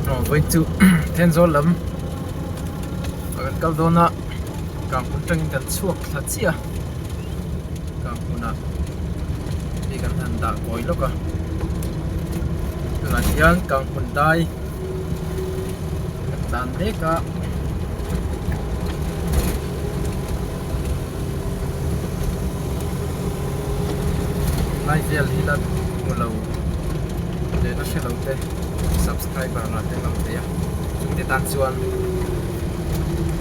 aw vawi chu Thenzawl lam a kan kal dawn a Kangpun tangin kan chhuak thla chiah a Kangpunah mi kan han dah kawi lawk a tunah hian Kangpun dai kan dan mek a. Laivel hi la hmu lo leh la hre lote subscriber lah te kan theih a, chutiang tan chuan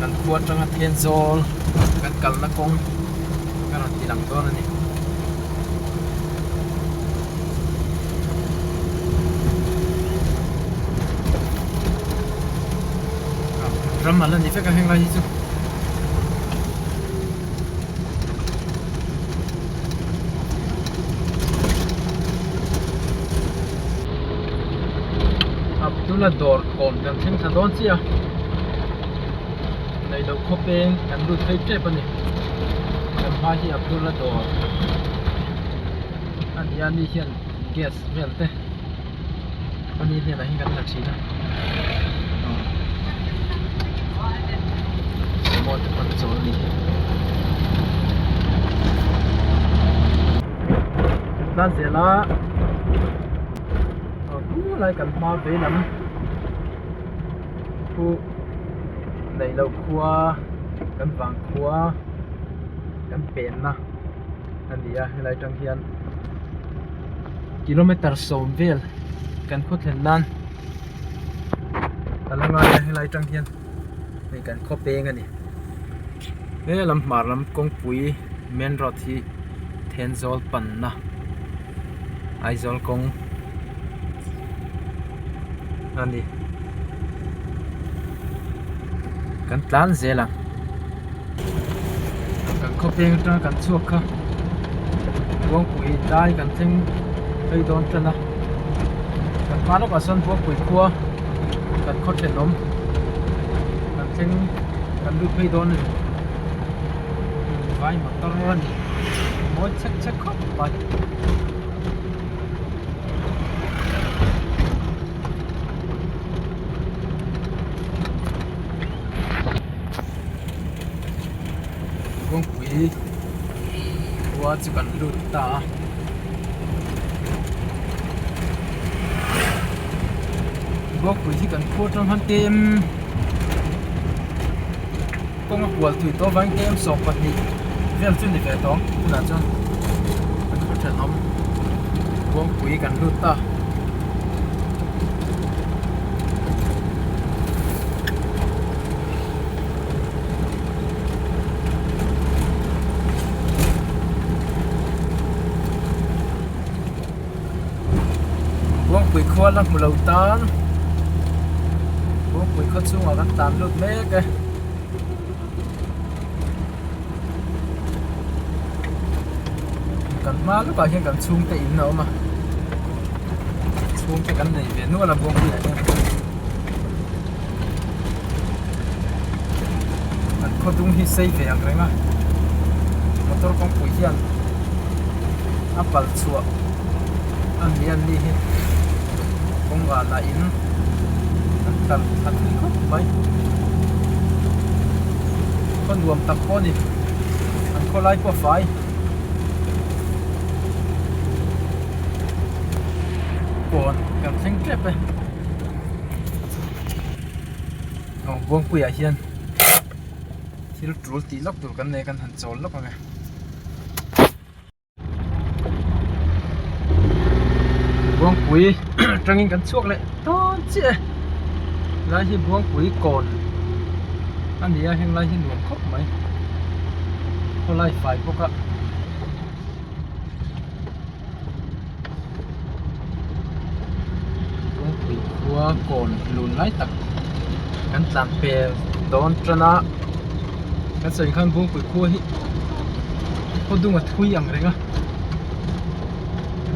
kan khua atanga then zawl kan kalna kawng ka rawn ti lang dawn a ni. Ram a la ni vek a heng lai hi chu. tuna dawr thawm kan thleng thla dawn chiah a neilo khaw peng kan lut phei tep a ni kan hmai hi abdula dawr a ni a ni hian gas vel te. Pani hian ahi kan la chhin a Samoa te pan chawl ni hi Nan zela Pu lai kan hma vei lam Pu neilo khua kan vang khua kan pen na a ni a helai atang hian kilometer sawm vel kan khaw thlen nan a la ngai a helai atang hian hei kan khaw peng a ni he lam hmar lam kawngpui main road hi then zawl panna. Aizawl kawng a ni. Kan tlan zel ang. Kan khaw peng atanga kan chhuak kha. Buangpuii tlai kan thleng phei dawn tan a. Kan hma lawkah sawn Buangpuii khua kan khaw thlen awm. Kan thleng kan lut phei dawn a ni. vai motor a ni mawi chek chek khawp mai kawngpui khua chu kan lut ta a kawngpui hi kan khaw tang han te em. Kawng a kual tih tawh vang tlem sawk pahnih vel chu ni ve tawh tunah chuan kan hmu thenawm Kawngpui kan lut ta Kawngpui khua la hmu lo tan Kawngpui khua chhungah kan tan lut mek e kan hma lukah hian kan chhungte in a awm a chhungte kan nei ve nual a Kawngpuiah hian. an khaw dum hi sei ve ang reng a motor kawngpui hian a pal chhuah a ni an nih hi kawng vana in an tlar a tui khawp mai khaw nuam tak pawh a ni an khaw lai pawh a fai pawn kan thleng tep e. aw buangpuiah hian thil tul tih lak tur kan nei kan han chawl lak ang e buangpui atangin kan chhuak leh dawn chiah e lai hi buangpui kawn a ni a heng lai hi nuam khawp mai khawlai fai bawk a. kawngpui khua kawn lun lai tak kan tlan fel dawn tan a kan sawi khan kawngpui khua hi khaw dung a thui ang reng a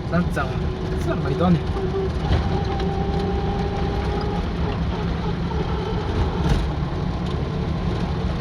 tlang chang chiah mai dawn a ni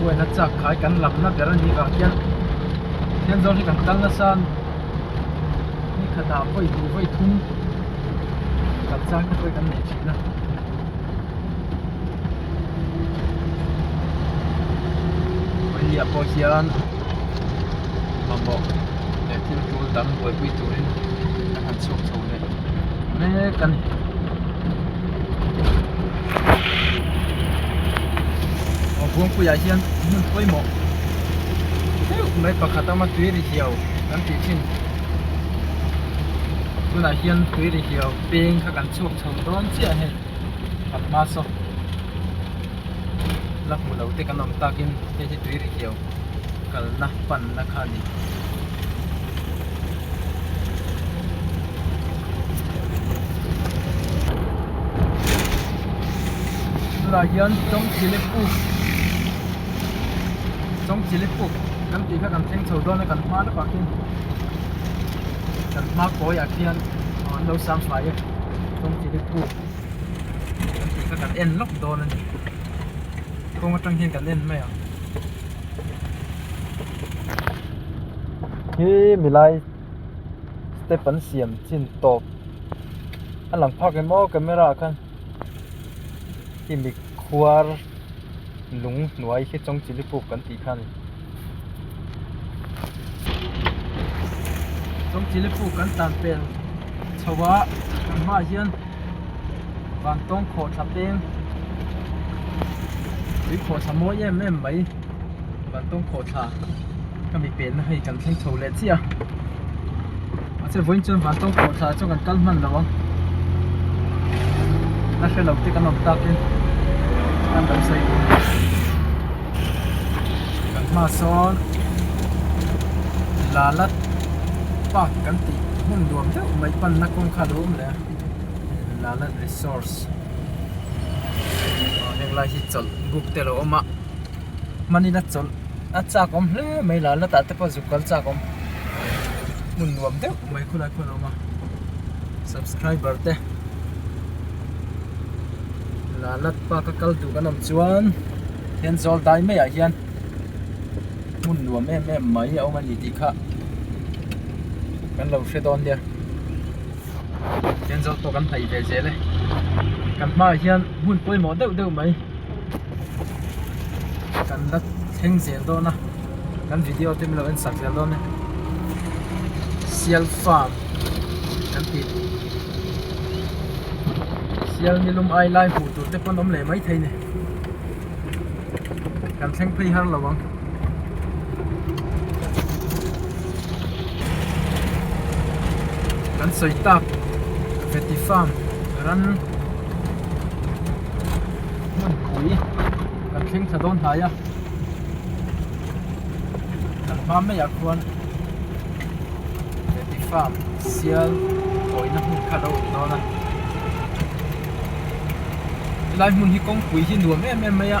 huaina chak khai kan lam na ber a nih vang hian thian zawng hi kan kal nasa a ni kha dah vawi duh vawi thung kan chang kha chuan kan nei thin a vawiah pawh hian mamawh leh thil tul dang buaipui turin a han chhuak chho leh. mek a ni aw buangpuiah hian hmun pawimawh deuh mai pakhat a awm a tui ri hiau kan tih thin tunah hian tui ri hiau peng kha kan chhuak chho dawn chiah hei kan hma saw la hmu lo te kan awm takin hei hi tui ri hiau kalna panna kha a ni. tunah hian chawngchilipuk chawngchilipuk kan tih kha kan thleng chho dawn a kan hma lawkah khian kan hma kawiah khian an lo sang fai a chawngchilipuk kan tih kha kan en lawk dawn a ni kawng atang hian kan en mai ang. Hi milai step an siam chin tawp a lang phak em aw camera ah khan khi mikhuar lung hnuai khi chawng chili puk kan tih kha a ni chawng chili puk kan tan pel chho a kan hmaah hian-- vantawng khaw thla peng tui khaw thla mawi em em mai vantawng khaw thla ka mi penna hei kan thleng chho leh chiah a mahse vawiin chuan vantawng khaw thla chu kan kal hman lo a la hre lo te kan awm tak in kan lo sawi tum a kan hma sawn lalat park kan tih hmun nuam deuh mai panna kawngkhar a awm leh a. Lalat resource aw heng lai hi chawlh buk te lo awm a hmanin a chawlh a chak awm hle mai lalat ah te pawh zuk kal chak awm hmun nuam deuh mai khawlai khawlai a awm a subscriber te lalat pa ka kal duh kan awm chuan thian zawldaii maiah hian hmun nuam em em mai a awm a ni tih kha kan lo hre dawn nia. angel pawh kan hnaih ve zel e kan hmaah hian hmun pawimawh deuh deuh mai kan la thleng zel dawn a kan video te miloh ensak zel dawn e sial farm kan tih sial nilum ailai hmuh tur te pawh an awm leh mai thei a ni kan thleng phei har lo ang. kan sawi tak heti farm ram hmun pui kan thleng thla dawn hnai a kan hma mai ah khuan heti farm sial khawina hmun kha lo awm dawn a helai hmun hi kawngpui hi nuam em em mai a.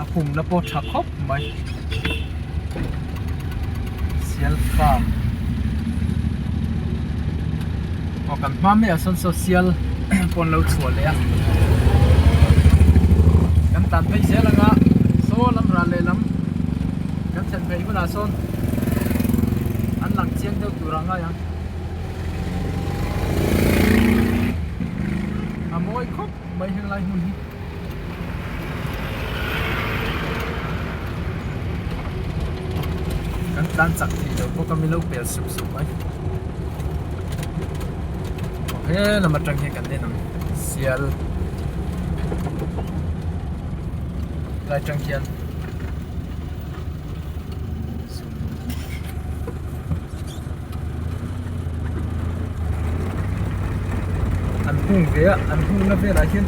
a khum na pawh tha khawp mai sialfa aw kan hma meh ah sawn saw sial pawh an lo chhuah leh a kan tan phei zel ang a saw lam rah leh lam kan thlen phei hunah sawn an lang chiang deuh tur ang a. a mawi khawp mai helai hmun hi kan tlan chak thei lo bawk a mi lo pel sup sup mai aw he lam atang hian kan en ang sial lai tang hian an hung ve a an hung na velah hian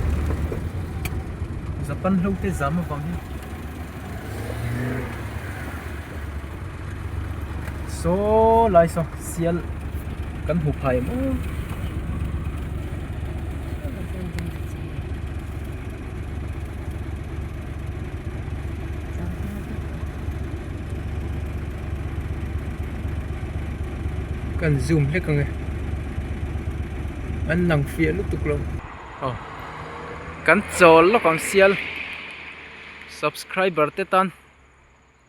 zapan hlo te zam avang hi saw lai saw sial kan hmu phai em aw. kan zoom hlek ang e an lang fiah lutuk lo aw kan chawl lawk ang sial subscriber te tan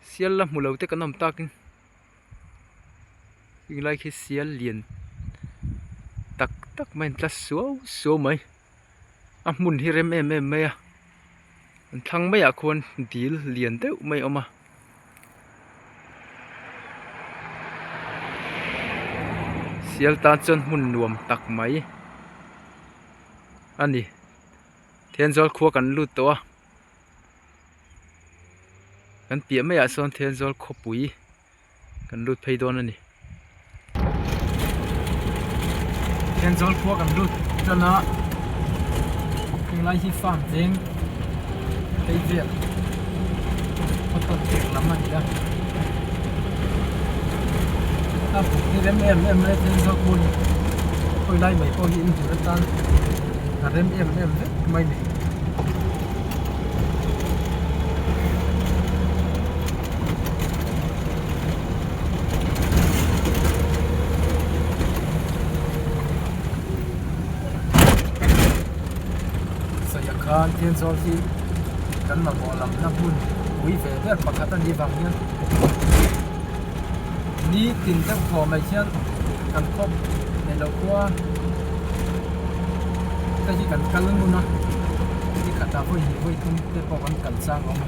sial la hmu lo te kan awm tak in heng lai khi sial lian tak tak mai an tla suau suau mai. a hmun hi rem em em mai a an thlang mai ah khuan dil lian deuh mai a awm a sial tan chuan hmun nuam tak mai a ni thian zawl khua kan lut tawh a kan piah mai ah sawn thian zawl khawpui-- kan lut phei dawn a ni heng zawl khua kan lut tan a heng lai hi farm tlem phei vel hotel chhek lam a ni a ta buk hi rem em em mai heng zawl khua hi khawi lai mai pawh hi in hmu atan a rem em em vek mai ni. khan Thianchawng hi kan mamawh lam na hmun pui ve ber pakhat a nih vang hian nitin deuh thaw mai khian kan khawp nei lo khua hei hi kan kal ngun a ni khatah hawi hi hawi thum te pawh kan kal chang a awm a.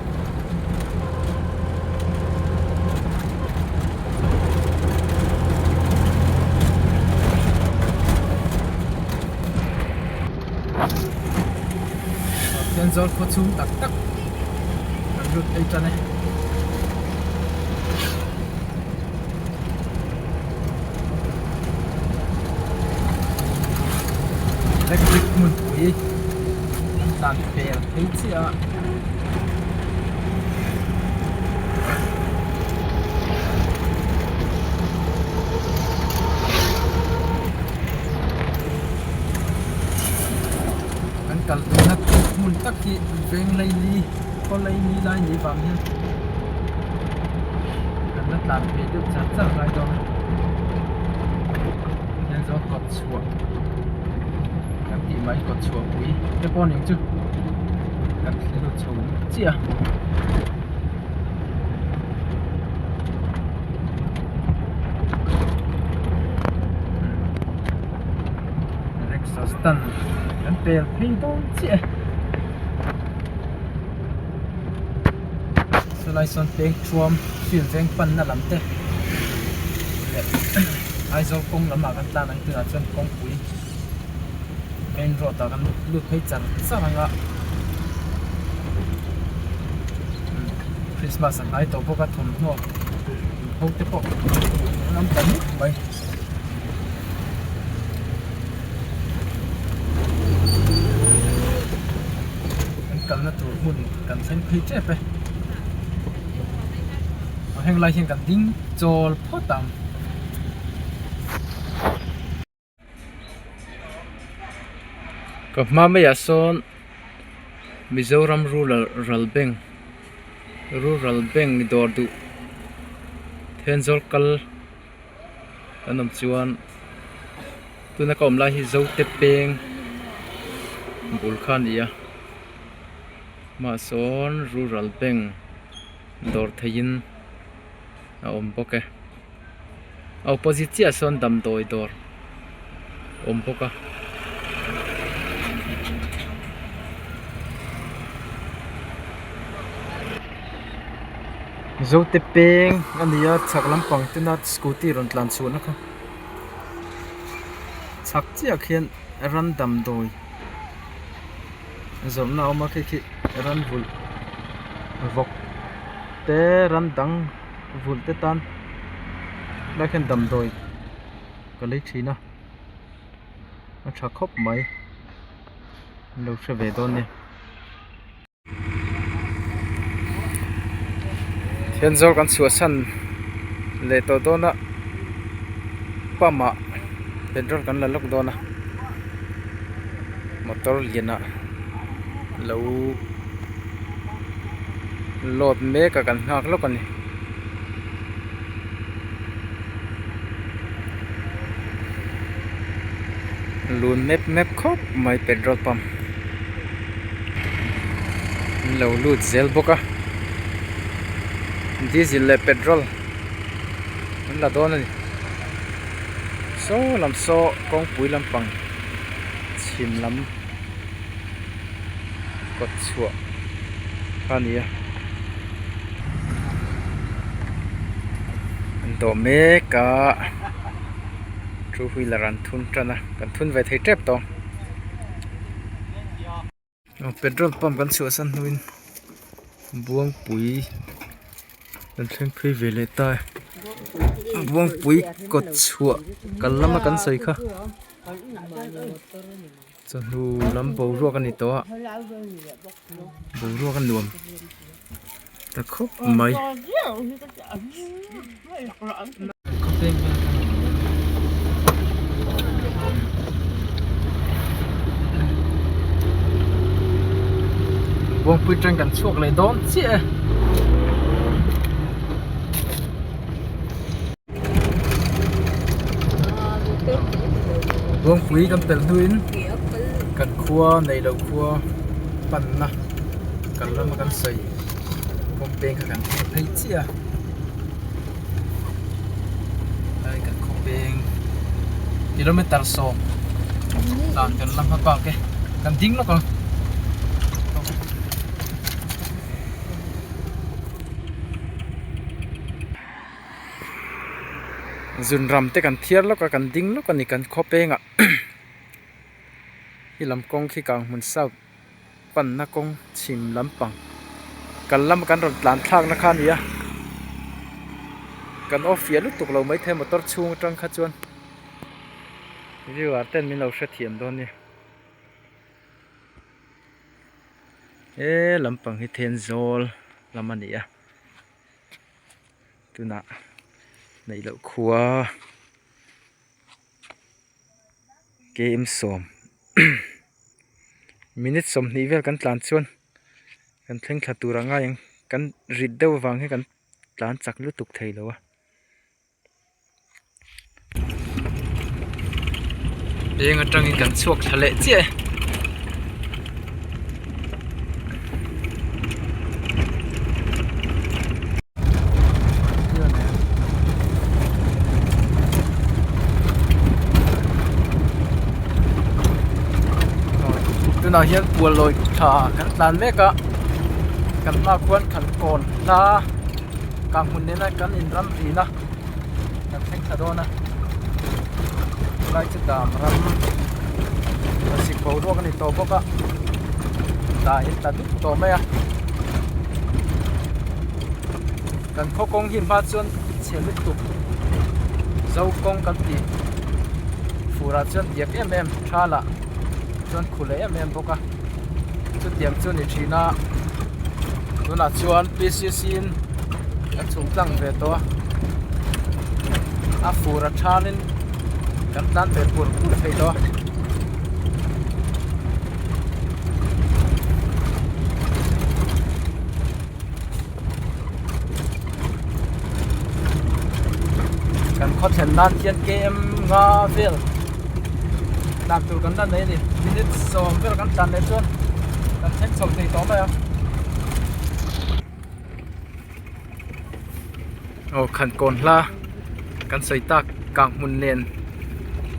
zawr khua chhung tak tak kan lut phei tan e. electric hmunpui an tlan fel phei chiah a. Kan kalhna hmun tak hi veng laili. khaw lei ni lai ni vang hian kan la tlan thei deuh char char ngai dawn a tiang zawng kawt chhuah kan tih mai kawt chhuah pui te pawh ni ang chu kan thli lut chho chiah a rickshaw stand kan pel phei dawn chiah e. chulai sawn pekthuam field veng panna lam te leh aizawl kawng lamah kan tlan ang tunah chuan kawngpui main road ah kan lut phei char char ang a christmas a hnai tawh bawk a thawmhnaw inpho te pawh kan hmu thei lam ta hle mai. kan kalna tur hmun kan thleng phei tep e a heng lai hian kan ding chawl phawt ang ka hma mai ah sawn mizoram rural rural bank rural bank dawr duh then zawlkal-- kan awm chuan tuna ka awm lai hi zote peng bul kha a ni a mah sawn rural bank dawr theihin a awm bawk e a opposite chiah ah sawn damdawi dawr. awm bawk a zote peng a ni a chhak lampang tena scooty rawn tlan chhuahna kha chhak chiah khian ram damdawi zawrhna a awm a khi khi ram vulh vawk te ram dang vulh te tan a hmaah khian damdawi. ka lei thin a a tha khawp mai an lo hre ve dawn nia thian zawk an chhuah san leh tawh dawn a pump ah petrol kan la lak dawn a motor lian ah lo load mek a kan nghak lawk a ni. lun mep mep khawp mai petrol pump in lo lut zel bawk a diesel leh petrol an la dawn a ni saw lam saw kawngpui lampang chhim lam. kawt chhuah a ni a an dawh mek a two wheeler an thun tan a kan thun ve thei tep tawh aw petrol pump kan chhuahsan hnuin buangpui kan thleng phei ve leh ta e buangpui kawt chhuah kal lama kan sawi kha. Chawhnu lam boruak a ni tawh a, boruak a nuam ta khawp mai. Buangpui train kan chhuak leh dawn chiah e. Rawngpui kan pelh hnuin kan khua nei lo khua panna kan ram a kan sawi kawngpeng kha kan hmuh phei chiah a helai kan kawngpeng kilometre sawm dan kan la hma bak e kan ding lawk ang. zun ram te kan thiar lawk a kan ding lawk a ni kan khaw peng ah i lam kawng khi kang hmun south pan na kawng chhim lam pang kal lam a kan rawn tlan thlak na kha a ni a kan off fiah lutuk lo mai thei a motor chhung atang kha chuan viewer ten min lo hre thiam dawn nia he lam pang hi thenzawl lam a ni a. tunah neih loh khua km sawm minute sawmhnih vel kan tlan chuan kan thleng thla tur a ngai ang kan rit deuh avang hi kan tlan chak lutuk thei lo a. eng atangin kan chhuak thla leh chiah e tunah hian puan lawih thla kan tlan mek a kan hmaah khuan thlan kawn hla-- kang hmun nena kan in ram vin a kan thleng thla dawn a chu lai chu dam ram kan sik bo ruak a ni tawh bawk a dah in ta dup tawh mai a kan khaw kawng hi hma chuan chhe lutuk zo kawng kan tih fur ah chuan diak em em tha lah chuan khu leh em em bawk. bawk a chutiang chuan ni thin a tunah chuan pcc in a chhuk tlang ve tawh a a fur a than in kan tan ve pur pur thei lo a kan khaw thlen nan hian km nga vel tlak tur kan la nei a ni minute sawm vel kan tlan leh chuan kan thleng chho thei tawh mai a aw khan kawn hla kan sawi tak kang hmun nen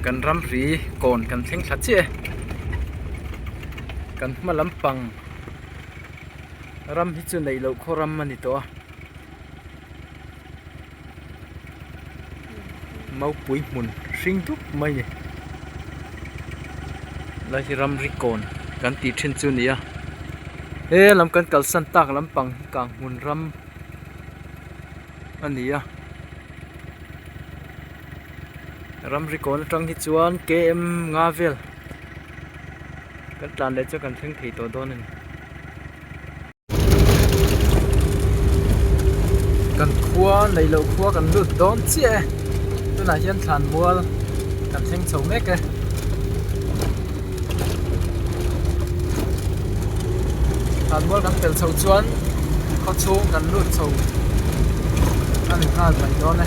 kan ram ri kawn kan thleng thla chiah e kan hma lampang-- ram hi chu neih loh khaw ram a ni tawh a mopui hmun hring dup mai ni lai hi ram rikawn kan tih thin chu nia he lam kan kalsan tak lampang hi kang hmun ram a ni a ram rikawn atang hi chuan km nga vel. kan tlan leh chu kan thleng thei tawh dawn a ni kan khua neih loh khua kan lut dawn chiah e tunah hian thlan mual kan thleng chho mek e thlan mual kan pel chho chuan khaw chhung kan lut chho a ni nghal mai dawn e.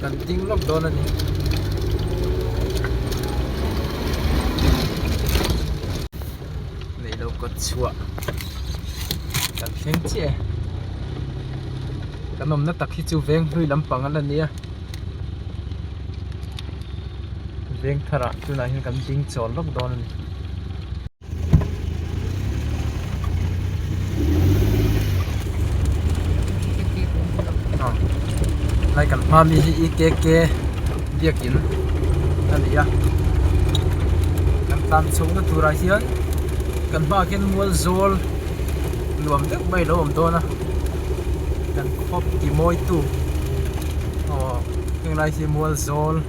kan ding lawk dawn a ni neilo kawt chhuah kan thleng chiah e kan awmna tak hi chu veng hlui lampang ala nia veng tharah tunah hian kan ding chawl lawk dawn a ni. lai kan hma mi hi ekk biakin a ni a kan tlan chho na turah hian kan hma ah khian mual zawl nuam deuh mai lo awm dawn a kan khawp ti mawi tu aw heng lai hi mual zawl--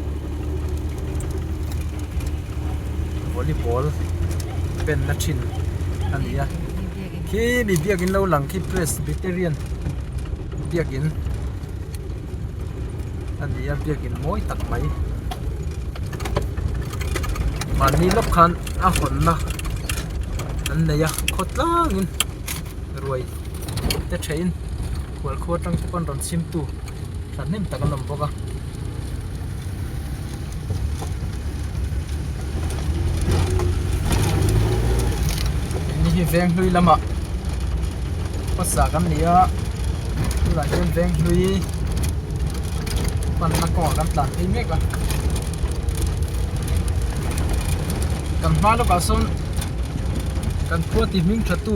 volleyball benna thin a ni a khi mi biakin lo lang khi presbyterian biakin a ni a biakin mawi tak mai mahni lawk khan a hawnna an nei a khawtlangin ruai te ṭha in khualkhuatang te pawh an rawn chhimtu ṭhahnem tak an awm bawk a. Hei veng hlui lamah khawsa kan ni a tunah hian veng hlui panna kawngah kan tlan phei mek a kan hma lawkah sawn kan khuati hming thatu.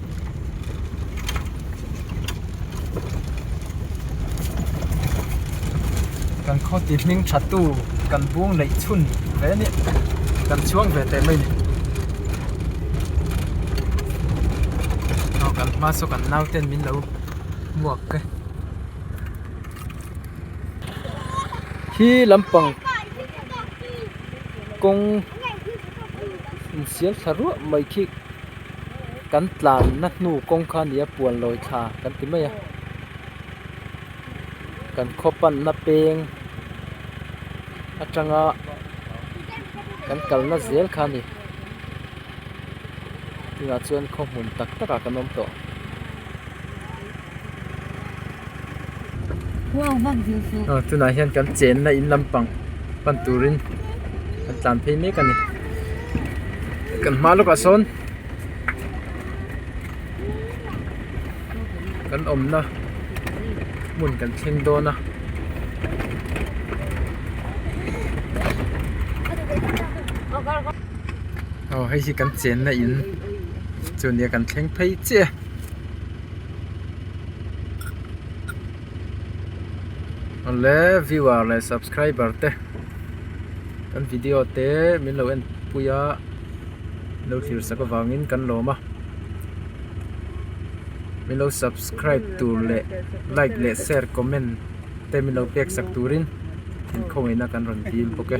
kan khaw ti hming tha tu kan bung neih chhun ve a ni kan chuang ve teh mai ni aw kan hma saw kan nau ten min lo muak te khi lam pang kawng insiam thla ruah mai khi. kan tlanna hnu kawng kha nia puanlawi thla kan ti mai a kan khaw panna peng atanga kan kalna zel kha a ni tunah chuan khaw hmun tak takah kan awm tawh. aw tunah hian kan chenna in lampang pan turin kan tlan phei mek a ni kan hma lawkah sawn kan awmna hmun kan thleng dawn a. Awle viewer leh subscriber te kan video te min lo en pui a min lo thlir sak avangin kan lawm a min lo subscribe tur leh like leh share comment te min lo pek sak turin inkhawngei na kan rawn dil bawk e.